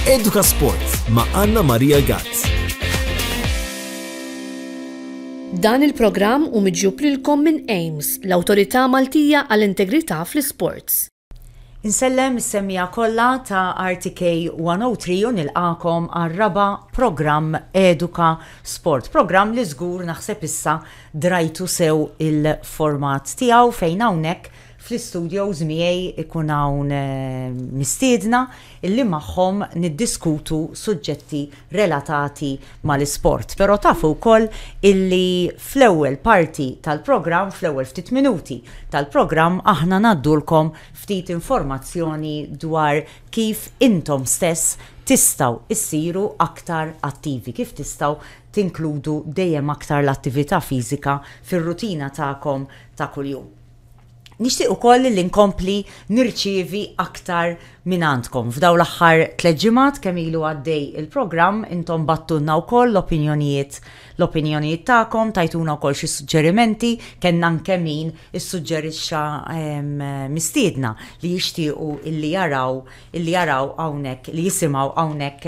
Eduka Sport ma' Anna Maria Gazz. Dan il-programm u miġjub lilkom minn AIMS, l-Awtorità Maltija għall-Integrità fl-Isports. Insellem is-semmija kollha ta' RTK 103 u nilqakom għar-raba' programm Eduka Sport. Programm li żgur naħseb issa drajtu sew il-format tiegħu fejn hawnhekk Fl-istudios miegħi jkun hawn mistiedna li magħhom niddiskutu suġġetti relatati mal-isport. Però tafu wkoll illi fl-ewwel parti tal-programm, fl-ewwel ftit minuti tal-programm aħna ngħaddulkom ftit informazzjoni dwar kif intom stess tistgħu issiru aktar attivi, kif tistgħu tinkludu dejjem aktar l-attività fiżika fir-rutina tagħkom ta' kuljum. Nixtieq ukoll li nkompli nirċievi aktar minn għandkom. F'dawn l-aħħar tliet ġimgħat kemm ilu għaddej il-programm, intom battulna wkoll l-opinjonijiet l-opinjonijiet tagħkom, tajtuna wkoll xi suġġerimenti, kellna anke min issuġġerixxa mistiedna li jixtiequ illi jaraw li jaraw hawnhekk, li jisimgħu hawnhekk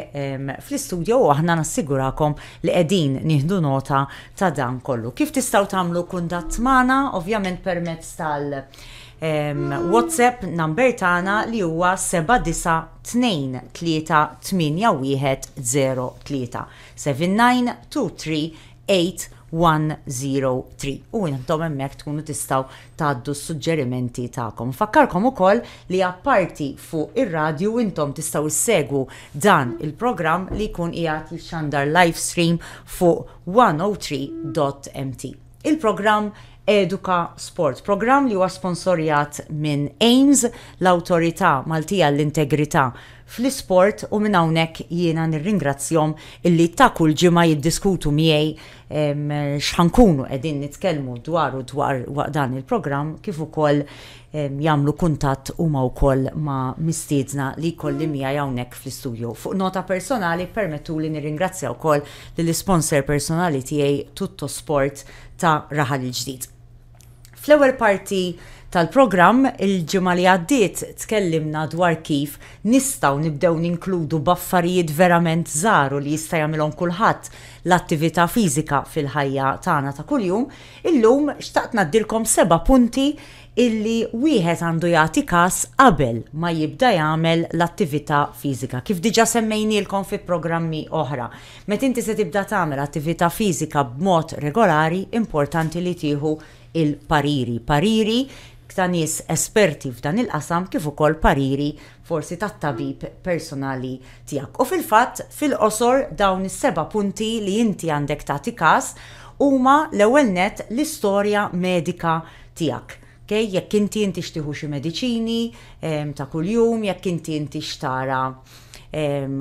fl-istudio u aħna nassigurakom li qegħdin nieħdu nota ta' dan kollu. Kif tistgħu tagħmlu kuntatt magħna? Ovvjament permezz tal- WhatsApp number tagħna li huwa 79238103792381037. 8103 u intom hemmhekk tkunu tistgħu tgħaddu s-suġġerimenti tagħkom. Nfakkarkom ukoll li apparti fuq ir-radju intom tistgħu ssegwu dan il-programm li jkun qiegħed jixxandar live stream fuq 103.mt. Il-programm Eduka Sport, programm li huwa sponsorjat minn AIMS, l-Awtorità Maltija għall-Integrità fl-isport u minn hawnhekk jiena nirringrazzjahom illi ta' kull ġimgħa jiddiskutu miegħi x'ħa nkunu qegħdin nitkellmu dwaru dwar waqt dan il-programm kif ukoll jagħmlu kuntatt huma wkoll ma' mistiedna li jkolli miegħi hawnhekk fl-istudju. Fuq nota personali ppermettuli nirringrazzja wkoll lill-isponsor personali tiegħi Tuttosport ta' Raħal il-Ġdid. Fl-ewwel parti tal-programm il-ġimgħa li għaddiet tkellimna dwar kif nistgħu nibdew ninkludu b'affarijiet verament żgħar u li jista' jagħmilhom kulħadd l-attività fiżika fil-ħajja tagħna ta' kuljum. Illum xtaqt ngħaddilkom seba' punti illi wieħed għandu jagħti kas qabel ma jibda jagħmel l-attività fiżika, kif diġà semmejnielkom fi programmi oħra. Meta inti se tibda tagħmel attività fiżika b'mod regolari, importanti li tieħu l-pariri, pariri ta' nies esperti f'dan il-qasam kif ukoll pariri forsi tat-tabib personali tiegħek. U fil-fatt, fil-qosor dawn is-seba' punti li inti għandek tagħti każ huma l-ewwel nett l-istorja medika tiegħek. Okej, jekk inti intix tieħu xi mediċini ta' kuljum, jekk inti intix tara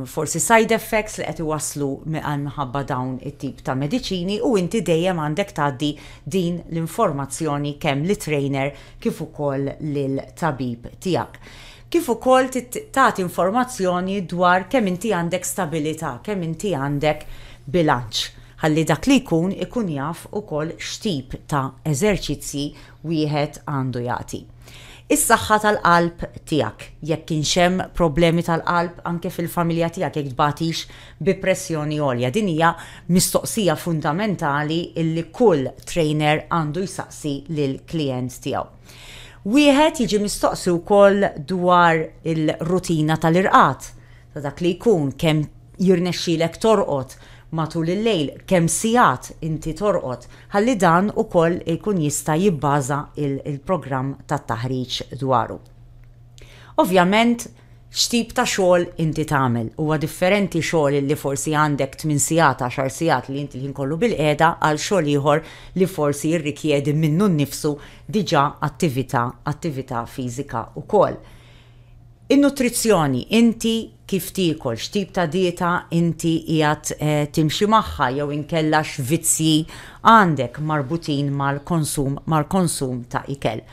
forsi side effects li qed iwasslu minħabba dawn it-tip ta' mediċini u inti dejjem għandek tgħaddi din l-informazzjoni kemm lit-trainer kif ukoll lill-tabib tiegħek. Kif ukoll tagħti informazzjoni dwar kemm inti għandek stabilità, kemm inti għandek bilanċ. ħalli dak li jkun ikun jaf ukoll x'tip ta' eżerċizzji wieħed għandu jagħti. Is-saħħa tal-qalb tiegħek, jekk kienx hemm problemi tal-qalb anke fil-familja tiegħek, jekk tbagħtix bi pressjoni għolja. Din hija mistoqsija fundamentali li kull trainer għandu jsaqsi lill-klijent tiegħu. Wieħed jiġi mistoqsi wkoll dwar il-rutina tal-irqad. ta' dak li jkun, kemm jirnexxilek torqod matul il-lejl, kemm sigħat inti torqod, ħalli dan ukoll ikun jista' jibbaża l-programm tat-taħriġ dwaru. Ovvjament, x'tip ta' xogħol inti tagħmel. Huwa differenti xogħol li forsi għandek tmien sigħat, għaxar sigħat li inti l-ħin kollu bilqiegħda għal xogħol ieħor li forsi jirrikjedi minnu nnifsu diġà attività, attività fiżika wkoll. In-nutrizzjoni, inti kif tiekol, x'tip ta' dieta inti qiegħed timxi magħha jew inkella x'vizzji għandek marbutin mal-konsum mal-konsum ta' ikel.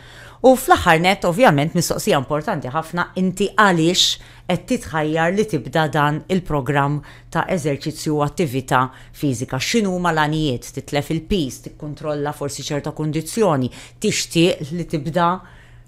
U fl-aħħar nett, ovvjament mistoqsija importanti ħafna, inti għaliex qed titħajjar li tibda dan il-programm ta' eżerċizzju u attività fiżika? X'inhuma l-għanijiet? Titlef il-piż, tikkuntrolla forsi ċerta kundizzjoni, tixtieq li tibda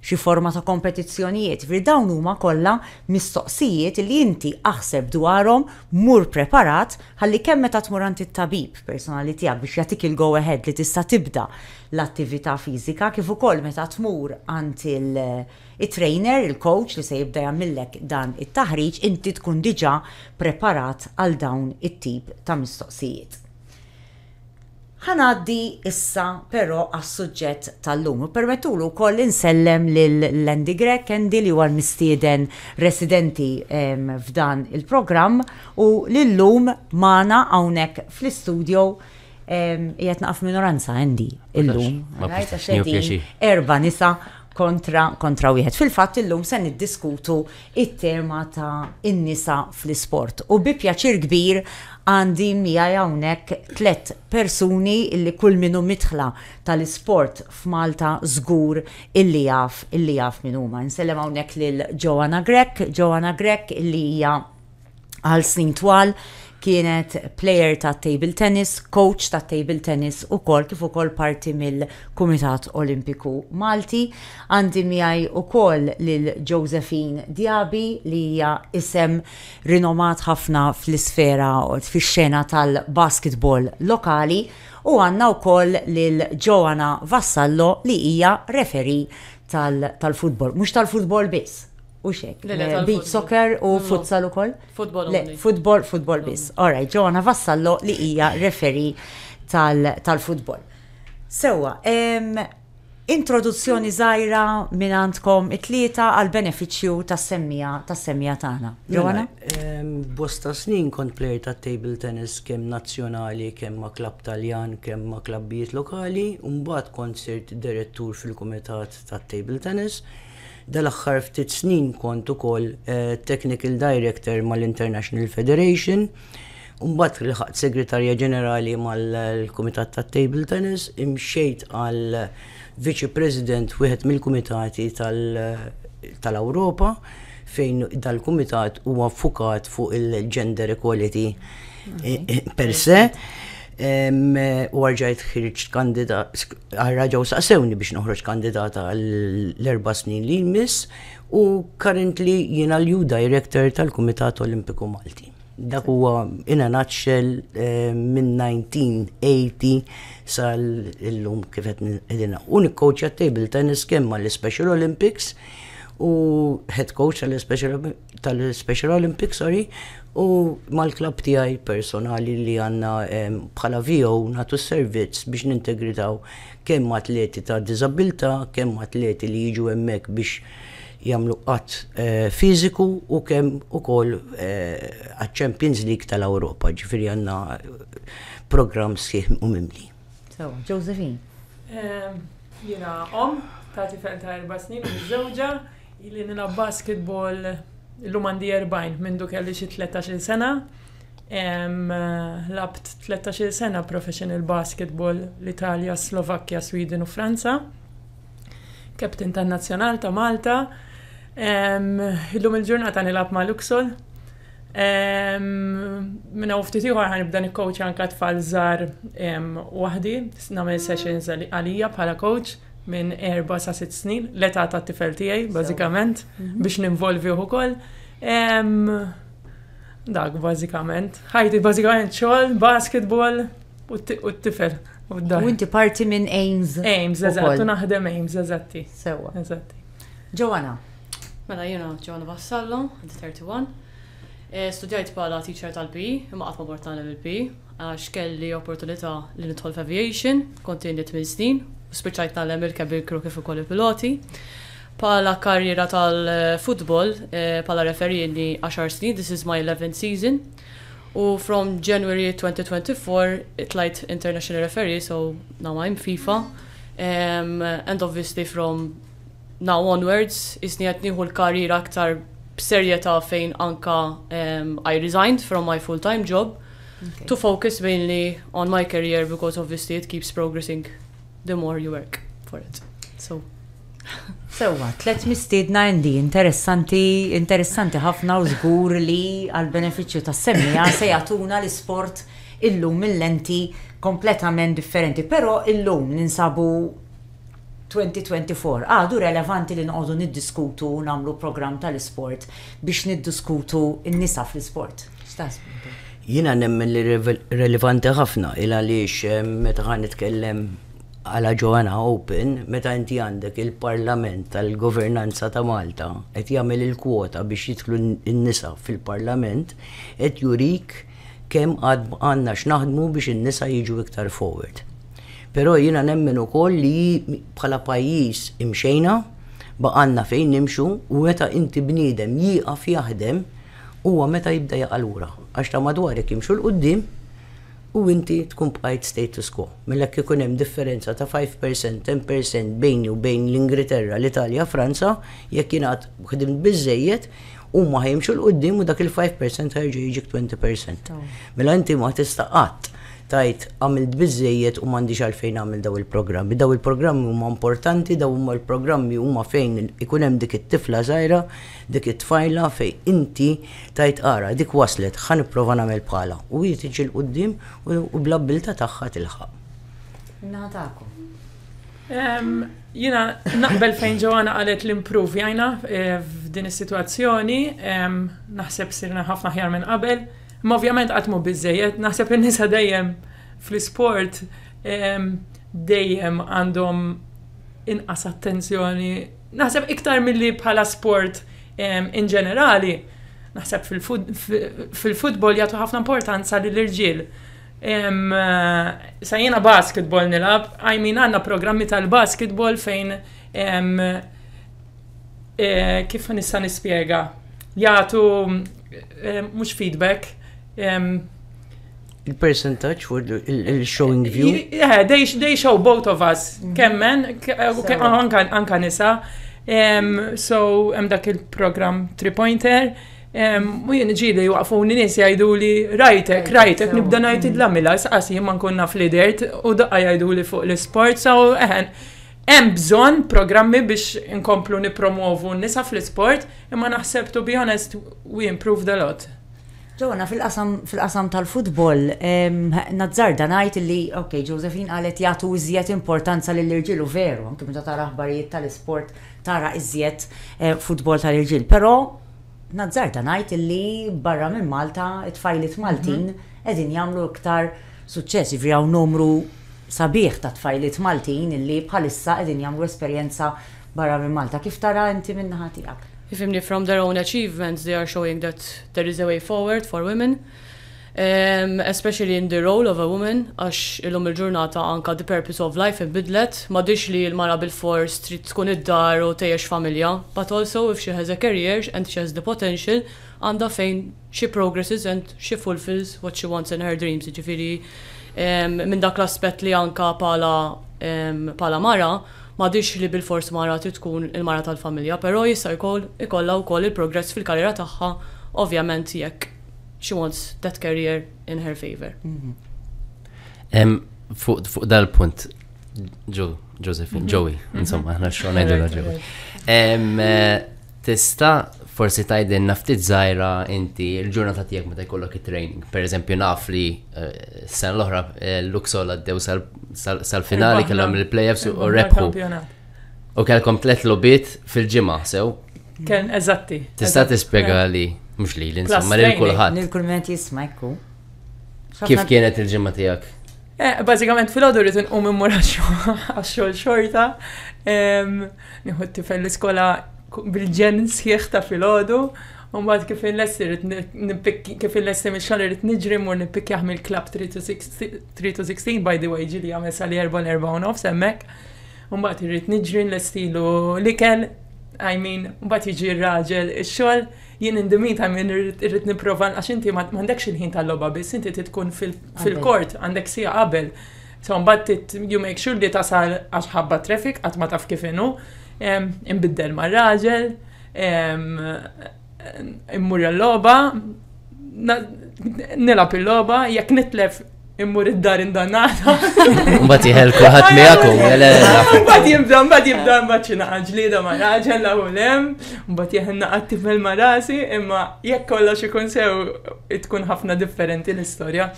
xi forma ta' kompetizzjonijiet, jiġifieri dawn huma kollha mistoqsijiet li inti aħseb dwarhom, mur preparat ħalli kemm meta tmur għand it-tabib personali tiegħek biex jagħtik il-go ahead li tista' tibda l-attività fiżika kif ukoll meta tmur għand it-trainer, il-coach li se jibda jagħmillek dan it-taħriġ, inti tkun diġà preparat għal dawn it-tip ta' mistoqsijiet. Ħa ngħaddi issa però għas-suġġett tal-lum u ppermettuli wkoll li nsellem lil Andy Grech, Andy li huwa l-mistieden residenti f'dan il-programm u li llum magħna hawnhekk fl-istudio. Qiegħed naqa' f'minoranza Andy illum. Għax qegħdin erba' nisa kontra kontra wieħed. Fil-fatt illum se niddiskutu it-tema ta' in-nisa fl-isport. U bi pjaċir kbir għandi miegħi hawnhekk tliet persuni li kull min hu midħla tal-isport f'Malta żgur illi jaf illi jaf min huma. Nsellem hawnhekk lil Joanna Grech, Joanna Grech illi hija għal snin twal kienet player ta' table tennis, coach ta' table tennis u kol kif ukoll parti mill-Kumitat Olimpiku Malti. Għandi miegħi ukoll lil Josephine Diaby li hija isem rinomat ħafna fl-isfera fix-xena tal-basketball lokali u għandna wkoll lil Joanna Vassallo li hija referi tal-futbol. Mhux tal-futbol biss, U xek, beach soccer u futsal u koll? Futbol. Futbol, futbol bis. Alright, Joanna Vassallo li hija referi tal-futbol. Sewa, introduzzjoni zaħira minn għandkom it-tlieta għal-beneficju tas-semmija tas-semmija tagħna. Mela, Joanna? Bosta snin kont plejer ta' table tennis kemm nazzjonali, kemm ma' klab Taljan, kemm ma' klabbijiet lokali, u mbagħad kont sirt direttur fil-kumitat ta' table tennis. Dal-aħħar ftit snin kont ukoll Technical Director mal-International Federation, u mbagħad lħaqt Segretarja Ġenerali mal-Kumitat tat-Table Tennis, imxejt għal Viċi President wieħed mill-Kumitati tal-Ewropa fejn dal-Kumitat huwa ffukat fuq il-Gender Equality per se. U għarġajt ħirġt kandidat, għarraġaw saqsewni biex noħroġ kandidata l-erba snin li jmiss u currently jina l-ju director tal-Kumitat Olimpiku Malti. Dak huwa in a nutshell eh, minn 1980 sal-illum kif qed qegħdina. U nikkowċja table tennis kemm mal-Special Olympics u head coach tal-Special Olympics tal-Special Olympics, sorry, u mal-klabb tiegħi personali li għandna ehm, bħala VO nagħtu servizz biex nintegritaw kemm atleti ta' diżabilità, kemm atleti li jiġu hemmhekk biex jagħmlu qatt eh, fiżiku u kemm ukoll eh, għaċ-Champions League tal-Ewropa, ġifieri għandna programm sħiħ u mimli. So, Josephine. Ehm, Jiena om ta' tifel ta' erba' snin u miżżewġa, Ili nilgħab basketball illum għandi 40 mindu kelli xi 13-il sena. Labt 13-il sena professional basketball l-Italja, Slovakkja, Sweden u Franza. Captain tan-Nazzjonal ta' Malta. Illum il-ġurnata nilgħab ma' Luxol. Minna u ftit ieħor ħanibda nikkowċja anke tfal żgħar waħdi, nagħmel sessions għalija bħala coach. minn erba' sa sitt snin, l-età tat-tifel tiegħi, bażikament, mhm. biex ninvolvih ukoll. Dak, bażikament. Ħajti, bażikament, xogħol, basketball u t-tifel. U inti parti minn Ames. Ames, eżatt, u naħdem Ames, eżatti. Sewa. Eżatti. Ġowana. Mela jiena Ġowana Vassallo, 31. Eh, studjajt bħala teacher tal-P, imma qatt ma bort nagħlem il-P. għax kelli opportunità li nidħol f'aviation, kont għindi tmien snin, u spiċċajt nagħlem irkeb il-crew kif ukoll il-piloti. Bħala karriera tal-futbol, bħala referee għindi għaxar snin, this is my 11th season, u from January 2024 tlajt international referee, so now I'm FIFA, and obviously from Now onwards, qisni qed nieħu l-career aktar b'serjetà fejn anka I resigned from my full time job to focus mainly on my career because obviously it keeps progressing the more you work for it. So. Sewa, tlet mistiedna Andy, interessanti, interessanti ħafna u żgur li għal-beneficju tas semmija se jagħtuna l-isport illum mill-lenti kompletament differenti, però illum ninsabu 2024. Għadu relevanti li noqogħdu niddiskutu u nagħmlu programm tal-isport biex niddiskutu n-nisa fl-isport? X'taħsbu intom? Jiena nemmen li relevanti ħafna il għaliex meta ħa nitkellem għala Joanna Open, meta inti għandek il-Parlament tal-Governanza ta' Malta qed jagħmel il-kwota biex jidħlu n-nisa fil-Parlament, qed jurik Kemm għad għandna x'naħdmu biex in-nisa jiġu iktar forward. Però jiena nemmen ukoll li bħala pajjiż imxejna, baqgħalna fejn nimxu u meta inti bniedem jieqaf jaħdem huwa meta jibda jaqa' lura għax ta' madwarek jimxu 'l quddiem u inti tkun bqajt status quo. Mela jekk ikun hemm differenza ta' five per cent, ten per cent bejni u bejn l-Ingriterra, l-Italja, Franza, jekk jien għad ħdimt biżżejjed, Huma ħajimxu l qudiem u dak il-5 percent ħajġi jiġi 20 percent. Mela inti ma tista' qatt tajt għamilt biżejjed u m'għandix għalfejn għamil daw il-programmi. Daw il-programmi huma importanti, daw huma il-programmi huma fejn ikun hemm dik it-tifla żgħira, dik it-tfajla fejn inti tajt ara, dik waslet, ħa nipprova nagħmel bħala. U hi tiġi l-qudiem u bl-abbilta tagħha tilħaq. Natakom. Jiena naqbel fejn Joanna qalet l-improve jajna eh, f'din is-sitwazzjoni, naħseb sirna ħafna ħjar minn qabel, imma ovvjament qatt mhu biżejjed, naħseb in-nisa dejjem fl-isport dejjem għandhom inqas attenzjoni. Naħseb iktar milli bħala sport in ġenerali, naħseb fil-futbol jagħtu ħafna importanza lill irġiel Sa jiena basketball nilab, I mean għanna programmi tal-basketball fejn eh, kif nista' nispjega? Jagħtu mhux feedback. Il-percentaġġ for il-showing view? Yeah, they, they show both of us, mhm. kemmen, anka nisa. So, hemm dak il-programm three-pointer. U jien ġili waqfuni nies jgħiduli rajtek, rajtek, nibda ngħid id-lamila, saqas jien ma nkun naf li dert u daqqa jgħiduli fuq l-isport, so eħen. Hemm bżonn programmi biex inkomplu nipromovu n-nisa fl-isport, imma naħseb to be honest we improved a lot. Joanna, fil-qasam tal-futbol, nazzarda ngħid li, ok, Josephine qalet jagħtu iżjed importanza lill-irġiel u veru, anke meta tara aħbarijiet tal-isport tara iżjed futbol tal-irġiel, però, Nazzarda ngħid li barra minn Malta, it-tfajliet Maltin qegħdin jagħmlu iktar suċċess. Jiġifieri hawn numru sabiħ ta' tfajliet Maltin li bħalissa qegħdin jagħmlu esperjenza barra minn Malta. Kif tara inti min-naħa tiegħek? Ifhimni from their own achievements they are showing that there is a way forward for women. especially in the role of a woman, għax illum il-ġurnata anka the purpose of life inbidlet, m'għadhiex li l-mara bilfors trid tkun id-dar u tgħejjex familja, but also if she has a career and she has the potential, għandha fejn she progresses and she fulfils what she wants in her dreams, jiġifieri minn dak l-aspett li anka bħala bħala mara m'għadhiex li bilfors mara trid tkun il-mara tal-familja, però jista' jkollha wkoll il-progress fil-karriera tagħha ovvjament jekk she wants that career in her favor. Em, fuq fuq dal-punt, ġo, Josephine, Joey, insomma, ħna xogħol ngħidilha Joey. Em, eh, Tista' forsi tgħidilna ftit żgħira inti l-ġurnata tiegħek meta jkollok it-training. Pereżempju naf li eh, s-sena l-oħra eh, Luxol għaddew sal- sal- sal-finali Irbaħna. kellhom il-playoffs u Irbaħna rebħu. kampjonat. U kellkom tliet lobiet fil-ġimgħa sew. Ken eżatti. Tista' tispjega li mhux li l-insomma lil kulħadd. Lil kulment jisma' jkun. Kif kienet il-ġimgħa tiegħek? Eh, bażikament fil-għodu rrid inqum immur għax-xogħol xorta. Nieħu t-tifel l-iskola bil-ġen sħiħ ta' fil-għodu. Umbat kif il-lessi rrit nipikki, kif il-lessi mil xogħol rrit nġri mur nipikki għam il-klab 3 to 16, by the way ġili għamil sali 4 4 nofs emmek. Mbagħad irrid niġri nlestilu l-ikel, I mean, mbagħad jiġi r-raġel ix-xogħol, jien in the meantime jien irrid nipprova għax inti m'għandekx il-ħin tal-logħba biss, inti tkun fil-kort, għandek sija qabel. So mbagħad you make sure li tasal għax ħabba traffic qatt ma taf kif inhu, imbiddel mar-raġel, immur l-logħba, nilgħab il-logħba, jekk nitlef immur id-dar indannata. Mbagħad jħel kulħadd miegħek u Mbagħad jibda, mbagħad jibda mbagħad xi naqa' ġlieda ma' raġel la u lem, mbagħad jeħel naqa' tifel ma' rasi, imma jekk kollox ikun sew tkun ħafna differenti l-istorja.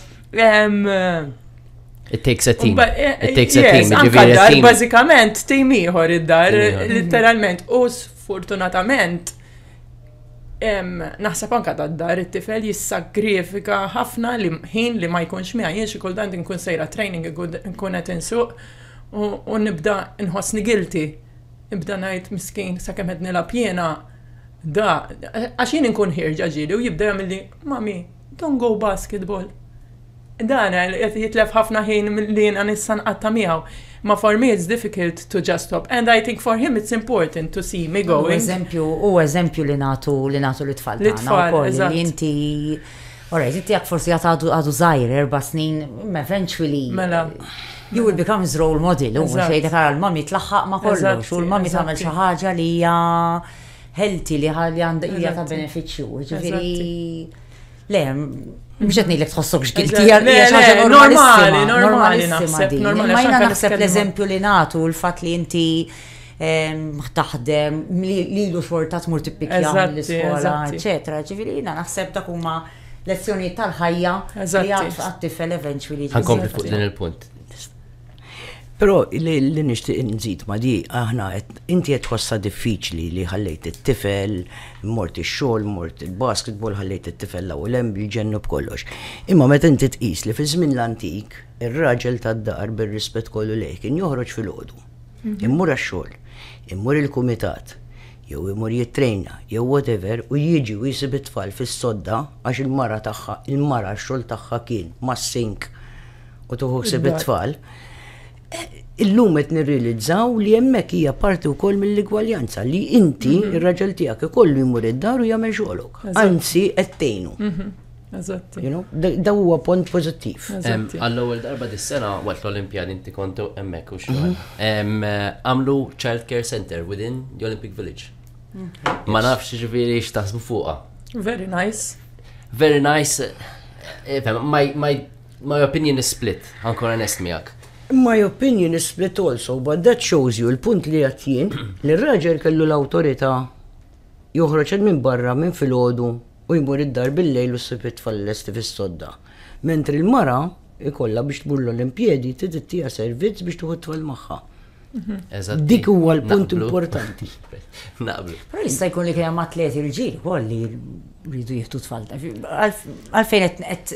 It takes a team. Eh, It takes a team. Anka dar, bażikament, team ieħor id-dar, litteralment, u sfortunatament Naħseb anka dad-dar it-tifel jissagrifika ħafna li ħin li ma jkunx miha jien xi kultant inkun sejra training inkun qed insuq u nibda nħossni guilty. Nibda ngħid miskin sakemm qed nilgħab jiena da għax jien inkun ħierġa ġieli u jibda jagħmilli mami don't go basketball. Dan qed jitlef ħafna ħin li jiena nista' nqatta' miegħu. Ma for me it's difficult to just stop and I think for him it's important to see me going. Huwa eżempju, huwa eżempju li nagħtu li nagħtu lit-tfal tagħna wkoll li inti Alright, inti jak forsi għat għadu zaħir, erba snin, eventually. Mela. You will become his role model, u xejdek għara l-mami tlaħħaq ma kollox, u l-mami tagħmel xi ħaġa li hija healthy li hija ta' benefiċċju, ġifieri. Le, mhux qed ngħidlek tħossokx guilty, hija normali, normali naħseb. Normali, ma jiena naħseb l-eżempju li nagħtu l-fatt li inti taħdem li lu xorta tmur tippikja l-iskola, eċetera. Ġifieri jiena naħseb dak huma lezzjonijiet tal-ħajja li għad tifel eventually. Għankompli fuq din il-punt. Però li nixtieq nżid ma' di, aħna qed inti qed tħossha diffiċli li ħallejt it-tifel, mort ix-xogħol, mort il-basketball, ħallejt it-tifel l-hawn u l-hemm, jġennu b'kollox. Imma meta inti tqis li fiż-żmien l-antik, ir-raġel tad-dar, bir-rispett kollu lejh, kien joħroġ filgħodu, imur għax-xogħol, imur il-kumitat, jew imur jittrejna, jew whatever, u jiġi u jsib it-tfal fis-sodda għax il-mara tagħha, il-mara x-xogħol tagħha kien mas-sink, u tuħu ħsieb it-tfal, illum qed nirrealizzaw li hemmhekk hija parti wkoll mill-igwaljanza li inti mhm. ir-raġel tiegħek ikollu jmur id-dar u jagħmel xogħlok. Anzi qed tgħinu. Mhm. Eżatt. Da huwa punt pożittiv. Għall-ewwel darba dis-sena waqt l-Olimpjad inti kont hemmhekk u xogħol. Mhm. Għamlu Child Care Center within the Olympic Village. Ma nafx ġifieri x'taħsbu fuqha. Very nice. Very nice. Eh, eh, My opinion is split, ħa nkun onest miegħek. My opinion is split also, but that shows you il-punt li qed jien li r-raġel kellu l-awtorità joħroġ il minn barra minn filgħodu u jmur id-dar bil-lejl u ssib it-tfal lesti fis-sodda. Mentri l-mara ikollha biex tmur l-Olimpjedi trid ittija servizz biex tieħu t-tfal magħha. Dik huwa l-punt importanti. Naqblu. Però jista' jkun li kien hemm atleti rġiel ukoll li rridu jieħdu tfal. Għalfejn qed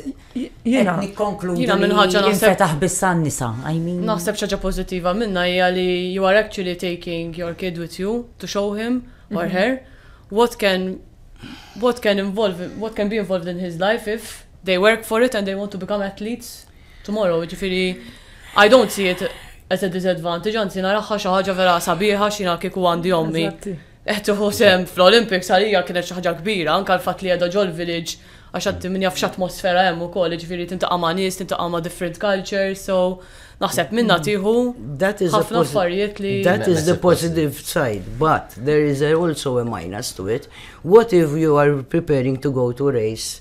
jiena nikkonkludi. Jiena minn ħaġa naħseb taħ bissan nisa. Naħseb xaġa pożittiva minna hija li you are actually taking your kid with you to show him or mhm. her what can what can involve what can be involved in his life if they work for it and they want to become athletes tomorrow, jiġifieri I don't see it as a disadvantage, anzi naraħħa xi ħaġa vera sabiħa xina kieku għandi ommi. Qed iħu sem fl-Olympics għalija kienet xi ħaġa kbira, anke l-fatt li qiegħda ġol village għax għad min jaf x'atmosfera hemm ukoll, jiġifieri tintaqa' ma' nies, tintaqa' ma' different cultures, so naħseb minna tieħu ħafna affarijiet li. That is the positive side, but there is also a minus to it. What if you are preparing to go to race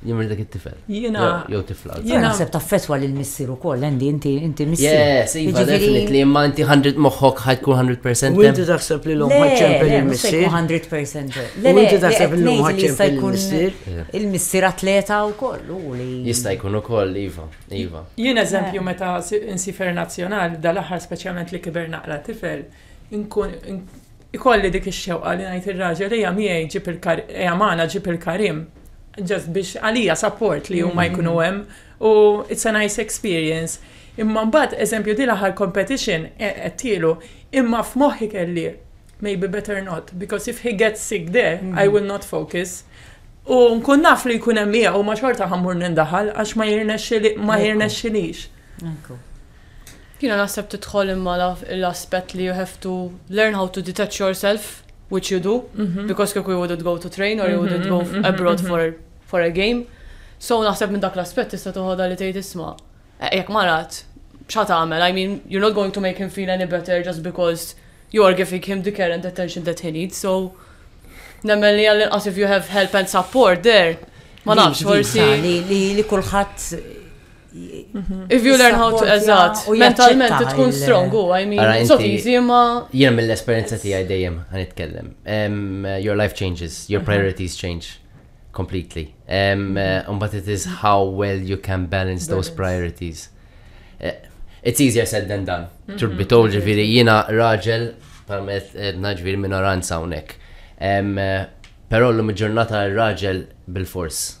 Jimri dak it-tifel. Jina. Jew tifla. Jina naħseb ta' fetwa li l-missir u koll, endi, inti, inti missir. Yes, iva, definitely, imma inti 100 moħħok ħajkun 100%. U inti taħseb li l-lum ħadċempel il-missir. Le, 100%. Le, inti taħseb li l-lum ħadċempel il-missir. Il-missir atleta u koll, u li. Jista' jkun u koll, iva, iva. Jien eżempju meta insifer nazjonal, dal-aħħar speċjalment li kiber naqra tifel, inkun Ikolli dik ix-xewqa li ngħid ir-raġel ejja miegħi ġib ejja magħna ġib il-karim. Ġast biex għalija support li huma jkunu hemm u it's a nice experience. Imma mbagħad eżempju din l-aħħar competition għedtielu imma f'moħħi kelli maybe better not because if he gets sick there I will not focus. U nkun naf li jkun hemm miegħu ma xorta ħammur nindaħal għax ma jirnexxilix. Jiena naħseb tidħol imma l-aspett li you have to learn how to detach yourself, which you do, mhm. because kieku you wouldn't go to train or you wouldn't mhm, go mhm, abroad for, for a game. So naħseb minn dak l-aspett tista' toħodha li tgħid isma' eh, jekk marat xa tagħmel, I mean, you're not going to make him feel any better just because you are giving him the care and attention that he needs, so nemmen li għallin as if you have help and support there. Ma nafx, forsi. Li kulħadd If you learn how to eżat, mentalment tkun strong u I mean, it's so easy ma. Jien mill-esperienza tiegħi dejjem għan itkellem. Your life changes, your mhm. priorities change completely. Um, but it is how well you can balance those priorities. Eh, it's easier said than done. Mhm. Truth be told, ġifiri, jina raġel, parmet eh, naġviri minoranza unek. Eh, Pero l-lum ġurnata raġel bil-fors.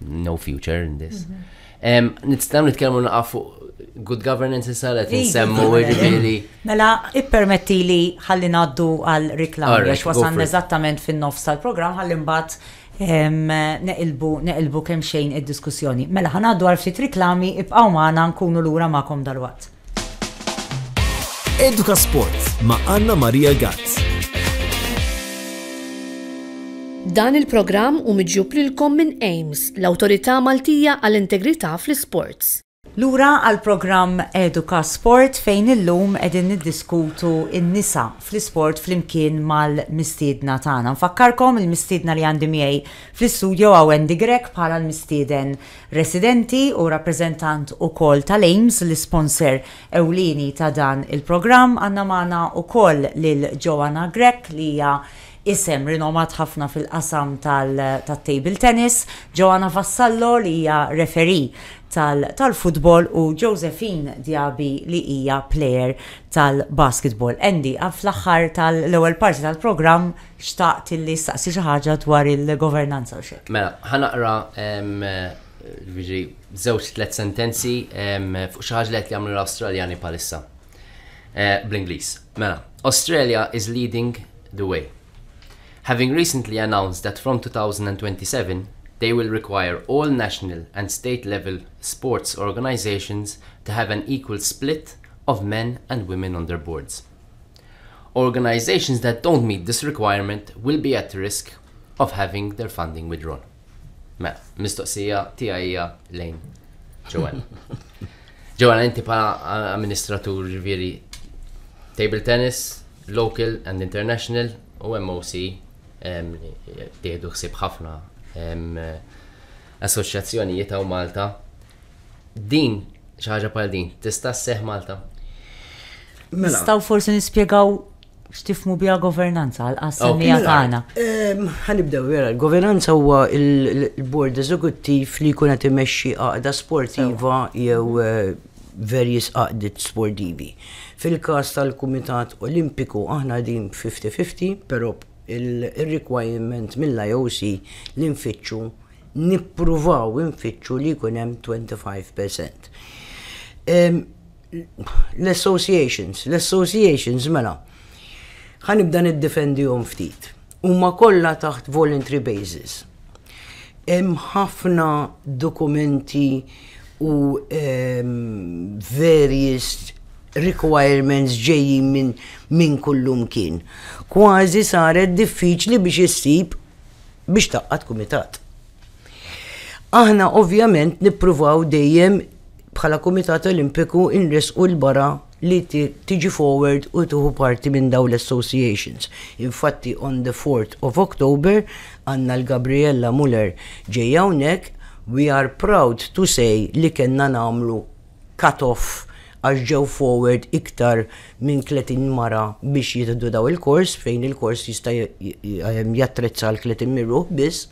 no future in this. Mhm. Nistaw nitkellmu naqaf fuq good governance issa li nsemmu ġifieri. Mela, ippermetti li ħalli ngħaddu għal reklam għax wasan eżattament fin-nofs tal-programm ħalli mbagħad neqilbu neqilbu kemm xejn id-diskussjoni. Mela ħanaddu għal ftit reklami ibqgħu magħna nkunu lura magħkom dal-waqt. Eduka Sport ma' Anna Maria Gazz. Dan il-programm hu miġjub lilkom minn AIMS, l-Awtorità Maltija għall-Integrità fl-Isports. Lura għall-programm Eduka Sport fejn illum qegħdin niddiskutu n-nisa fl-isport flimkien mal-mistiedna tagħna. Nfakkarkom il-mistiedna li għandi miegħi fl-istudjo hawn Wendy Grech bħala l-mistieden residenti u rappreżentant ukoll tal-AIMS, l-isponser ewlieni ta' dan il-programm. Għandna magħna wkoll lil Joanna Grech li hija isem rinomat ħafna fil-qasam tat-table tennis, Joanna Vassallo li hija referee tal-futbol u Josephine Diaby li hija player tal-basketball. Andy, fl-aħħar tal-ewwel parti tal-programm, Xtaqt li staqsi xi ħaġa dwar il-governanza u x'hekk. Mela, ħa naqra jiġifieri żewġ tliet sentenzi fuq xi ħaġa li qed jagħmlu l-Awstraljani bħalissa. Bl-Ingliż. Mela, Australia is leading the way. Having recently announced that from 2027 they will require all national and state level sports organisations to have an equal split of men and women on their boards. Organisations that don't meet this requirement will be at risk of having their funding withdrawn. Mela, mistoqsija tija hija lejn Joanna. Joanna, inti pa amministratur ġifieri table tennis, local and international u MOC tieħdu ħsib ħafna assoċjazzjonijiet għaw Malta. Din, xi ħaġa bħal din, tista' sseħħ Malta? Mela. Staw forsi nispjegaw x'tifmu biha governanza għal qasam li mela, tagħna. Ehm, ħanibdew vera, governanza huwa il-bord eżekuttiv li jkun qed imexxi għaqda sportiva jew eh, verjis għaqdiet sportivi. Fil-każ tal-Kumitat Olimpiku aħna din 50-50, però il-requirement mill-IOC li nfittxu nippruvaw infittxu li jkun hemm 25%. L-associations, l-associations mela, ħanibda niddefendihom ftit. Huma kollha taħt voluntary basis. Hemm ħafna dokumenti u various requirements ġejjin minn min kullum kien. Kważi saret diffiċli biex issib biex tgħaqqad kumitat. Aħna ovvjament nippruvaw dejjem bħala Kumitat Olimpiku inresqu l-bara li tiġi forward u tuħu parti minn daw l-associations. Infatti on the 4th of October għanna l-Gabriella Muller ġejja hawnhekk we are proud to say li kellna nagħmlu cut-off għax ġew forward iktar minn 30 mara biex jieħdu dawn il-kors fejn il-kors jista' jattrezza għal 30 minn ruħ biss.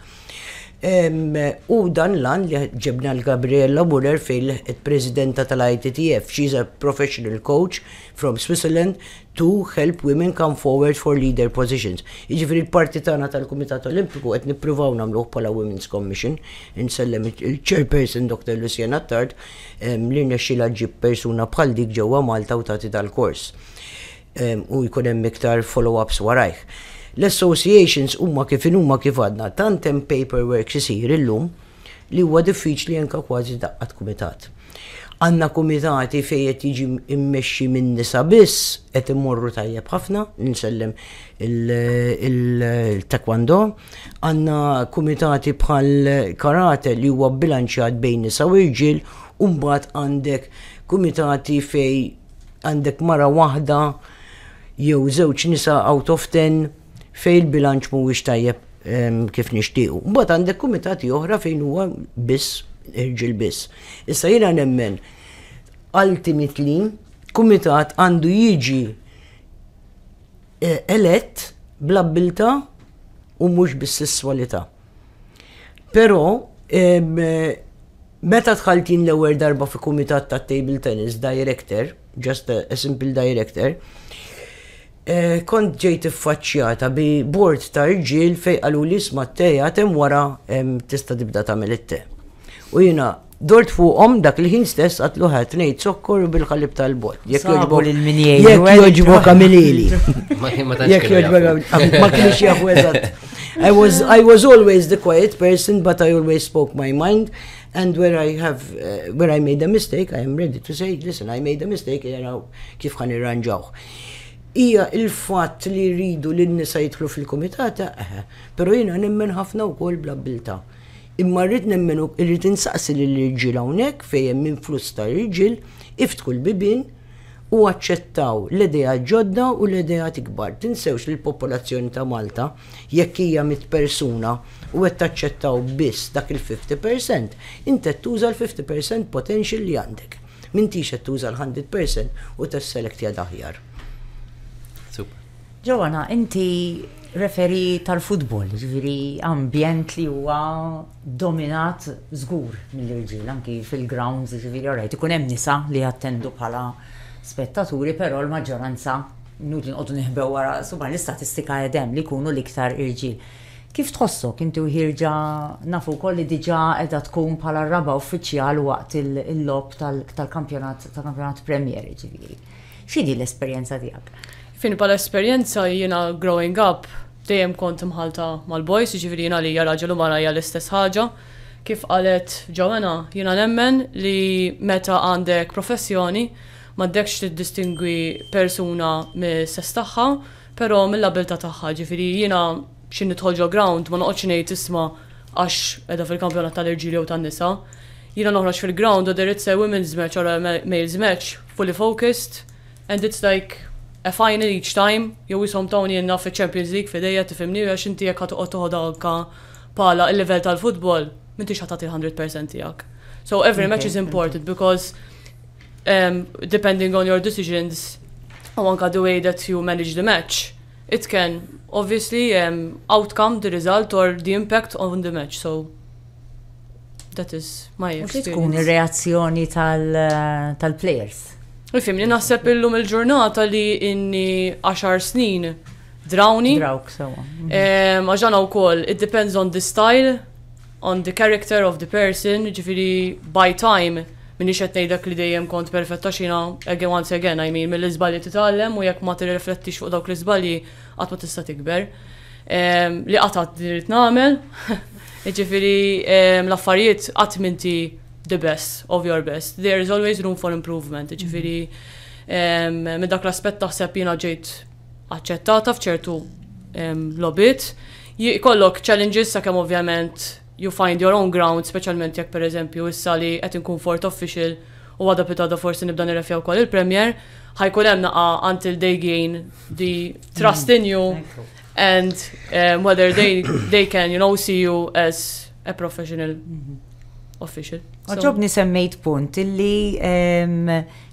Hu dan l-għan li ġibna lil Gabriella Murer fejn lħqet Presidenta tal-ITTF. She is a professional coach from Switzerland to help women come forward for leader positions. Jiġifieri l-parti tagħna tal-Kumitat Olimpiku qed nippruvaw nagħmluh bħala Women's Commission, insellem il-Chairperson Dr. Lucienne Attard li rnexxielha ġġib persuna bħal dik ġewwa Malta u tagħti dal-kors u jkun hemm iktar follow-ups warajh. L-associations huma kif inhuma kif għadna, tant hemm paperworks isir illum, li huwa diffiċli anke kważi daqqa t'kumitat. Għandna kumitati fejn qed jiġi mmexxi minn nisa biss, qed imorru tajjeb ħafna, insellem il-taekwondo, għandna kumitati bħall-karate li huwa bbilanċjat bejn nisa u irġiel u mbagħad għandek kumitati fejn għandek mara waħda jew żewġ nisa out of ten. fejn il-bilanċ mhuwiex tajjeb kif nixtiequ. Mbagħad għandek kumitati oħra fejn huwa biss irġiel biss. Issa jiena nemmen ultimately kumitat għandu jiġi eh, elett bl-abbilta u mhux bis-sesswalità. Però eh, meta tħaltin l-ewwel darba fi kumitat ta' table tennis director, just a, a simple director, eh, kont ġejt iffaċċjata bi bord ta' rġil fej qalu li sma t-teja tem wara tista' tibda tagħmel it-te. U jiena dort fuqhom dak li ħin stess għatlu ħat ngħid sokkor bil-ħalib tal-bot. Jekk joġbok il-minjeli. Jekk joġbok għamilili. Jekk joġbok ma kienx jafu eżatt. I was, I was always the quiet person, but I always spoke my mind. And where I have, uh, where I made a mistake, I am ready to say, listen, I made a mistake, jaraw kif kan irranġawh. Ija il-fat li rridu li n-nisa jitlu fil-komitata, eħe, pero jina nemmen ħafna u kol bla bilta. Imma rrid nemmen u rrid insaqsi li l-irġil hawnhekk fejn minn flus ta' irġil iftku l-bibin u aċċettaw l-idea ġodda u l-idea tikbar. Tinsewx li l-popolazzjoni ta' Malta Jekk hija mitt persuna u qed taċċettaw biss dak il-fifty percent, int qed tuża l-fifty percent potential li għandek. M'intix qed tuża l-hundred percent u tesselektja daħjar. Super. Joanna, inti referee tal-futbol, jiġifieri ambjent li huwa dominat żgur mill-irġiel anki fil-grounds jiġifieri orajt ikun hemm nisa li jattendu bħala spettaturi però l-maġġoranza inutli noqogħdu neħbew wara subgħa l-istatistika qed hemm li jkunu l-iktar irġiel. Kif tħossok inti u Hirja nafu wkoll li diġà qiegħda tkun bħala r-raba' uffiċjal waqt il-logħob tal-kampjonat tal-kampjonat Premier jiġifieri. X'inhi l-esperjenza tiegħek? Fini bħala esperjenza jiena growing up dejjem kont mħalta mal-boys, jiġifieri jiena għalija raġel u mara hija l-istess ħaġa. Kif qalet Joanna, jiena nemmen li meta għandek professjoni m'għandekx tiddistingwi persuna mis-sess tagħha, però mill-abiltà tagħha. Jiġifieri jiena xi nidħol ġo ground ma noqgħodx ngħid isma' għax qiegħda fil-kampjonat tal-irġiel jew tan-nisa. Jiena noħroġ fil-ground u there it's a women's match or a male's match, Fully focused and it's like a final each time, jew ishom tawnielna fiċ-Champions League f'idejja tifhimni għax inti jekk ħa toqgħod toħodha anke bħala l-livell tal-futbol m'intix ħa tagħti l-hundred percent tiegħek. So every match is important because um, depending on your decisions u anke the way that you manage the match, it can obviously um, outcome the result or the impact on the match. So That is my experience. Mux tkun reazzjoni tal-players. Tal Fim li naħseb illum il-ġurnata li inni 10 snin drawni. Drawk, sewa. Għaxana u koll, it depends on the style, on the character of the person, ġifiri by time, minni xet nejdak li dejjem kont perfetta xina, again once again, I mean, mill-izbalji titallem u jekk ma t-reflettix fuq dawk l-izbalji, għat ma tista tikber. Ehm, li qatat li rrid nagħmel. Jiġifieri ehm, l-affarijiet qatt minti the best of your best. There is always room for improvement. Jiġifieri ehm, minn dak l-aspett taħseb jiena ġejt aċċettata f'ċertu lobit. Jkollok challenges sakemm ovvjament you find your own ground, speċjalment jekk per eżempju issa li qed inkun fourth official u għada pitgħada forsi nibda nirrefja wkoll il-Premier, ħajkun hemm naqa' until they gain the trust in you and um, whether they, they can, you know, see you as a professional mm-hmm. official. Għagħobni semmejt punt illi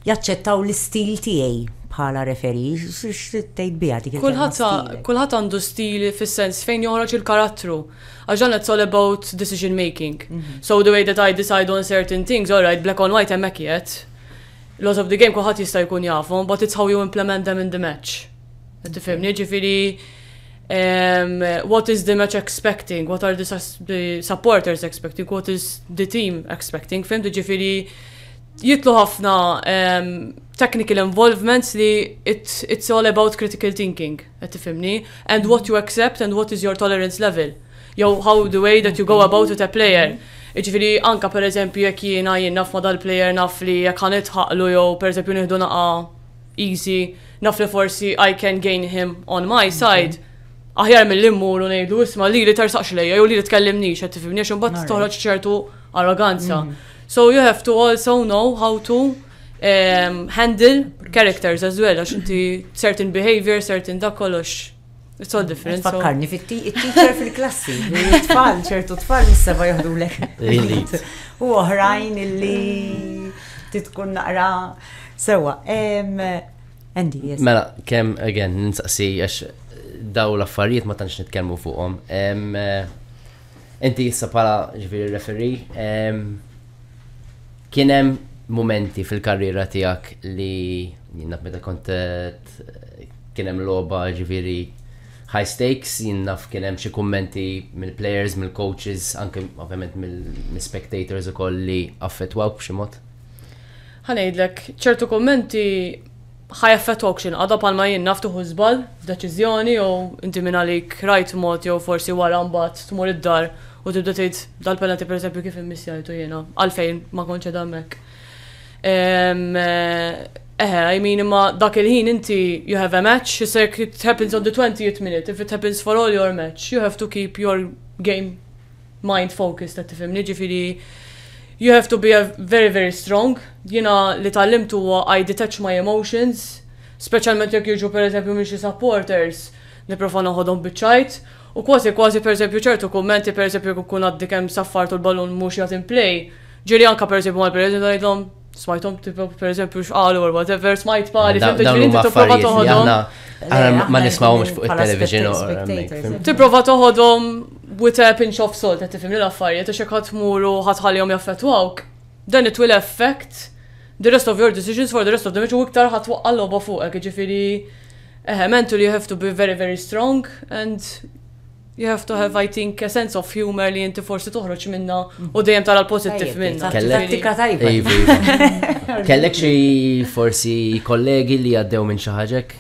jaċċettaw l-istil tiegħi bħala referi, x'tejt bija dik Kulħadd għandu stili fis-sens fejn joħroġ il-karattru. Għax dan it's all about decision making. So the way that I decide on certain things, all right, black on white hemmhekk qiegħed. Laws of the game kulħadd jista' jkun jafhom, but it's how you implement them in the match. Qed tifhimni, ġifieri um, what is the match expecting, what are the, the supporters expecting, what is the team expecting, fim ġifiri jitlu ħafna um, technical involvements li it's, it's all about critical thinking. Qed tifhimni? And what you accept and what is your tolerance level. Jew how the way that you go about with a player. Jiġifieri anke pereżempju jekk jiena jien naf ma' dal-player naf li jekk ħa nidħaqlu jew pereżempju nieħdu naqgħa easy, naf li forsi I can gain him on my side. Aħjar milli mmur u ngħidlu isma' lili tersaqx lejja jew lili tkellimnix qed tifhimni għax imbagħad toħroġ ċertu arroganza. So you have to also know how to handle characters as well, għax inti certain behavior, certain da kollox. It's all different. Fakkarni fit-teacher fil-klassi, tfal, ċertu tfal mis-seba jahdu lek. U oħrajn illi titkun naqra sewa. Andy, yes. Mela, kem, again, ninsaqsi, għax daw l-affarijiet ma tantx nitkellmu fuqhom. Eh, Inti issa bħala ġifieri referi, kien hemm momenti fil-karriera tiegħek li jinnaf meta kont kien hemm logħba ġifieri high stakes, jinnaf kien hemm xi kummenti mill-players, mill-coaches, anke ovvjament mill-spectators ukoll li affettwaw b'xi mod? Ħanejdlek, ċertu kummenti ħa jaffettwawk x'inqata' bħalma jien naf tieħu żball f'deċiżjoni jew inti mingħalik rajt mod jew forsi wara mbagħad tmur id-dar u tibda tgħid dal-penalty pereżempju kif immissjajtu jiena għalfejn ma kontx qiegħda hemmhekk. Ehm eħe I mean imma dak il-ħin inti you have a match it happens on the 20th minute if it happens for all your match you have to keep your game mind focus ta' tifimni, ġifiri you have to be a very very strong. Jina li tal-limtu huwa I detach my emotions, speċjalment jekk jiġu per eżempju minn xi supporters, niprofa noħodhom biċ-ċajt. U kważi kważi per eżempju ċertu kummenti per eżempju jekk nkun għaddi kemm saffart u l-balun mhux jagħti mplay, ġieli anke per eżempju mal-president ngħidlhom smajtom tipo per eżempju xqalu or whatever, smajt pari, fim biex inti tipprova toħodhom. Ma nismawhomx fuq il-television or Tipprova toħodhom with a pinch of salt, qed tifhimni l-affarijiet, għax hekk tmuru ħatħallihom jaffettwawk. Then it will affect the rest of your decisions for the rest of the match u iktar ħatwaqqa l-logħba fuqek, ġifieri eħe mentally you have to be very very strong and You have to have, I think, a sense of humor li jinti forsi toħroġ minna u dejjem tara l-pozittiv minna. Tattika tajba. Iva, iva. Kellek xi forsi kollegi li għaddew minn xi ħaġek?